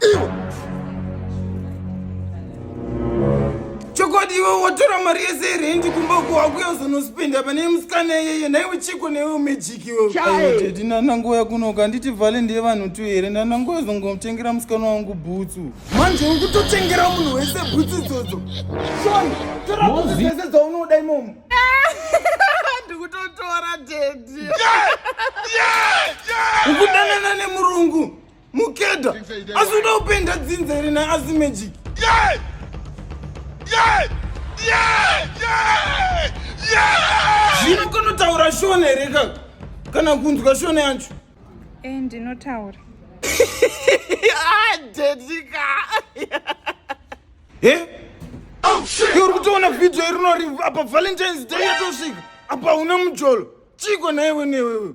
iwe chokwadi iwe watora mari yese yerendi kumba uko wakuya uzonosipinda pane musikana iyeye naiwe chiko newe umejiki iweuteti ndanangoya kunoka handiti vhale ndiye vanhu tu here ndanangoya zongotengera musikana wangu bhutsu manje uri kutotengera munhu wese bhutsu idzodzo son toraese dzaunoda imomo ndikutotora dedi ukudanana nemurungu Mukeda, asi unoda kupenda dzinza here na asi magic? Yeah! Yeah! Yeah! Yeah! Yeah! Zvino kunotaura shona here kaka? Kana kunzwa shona yacho? Eh, ndinotaura. Ah, dedika. Eh? Oh shit. Uri kutoona video iri nori apa Valentine's Day yatosvika. Apa una mujolo. Chiko na iwe newewe.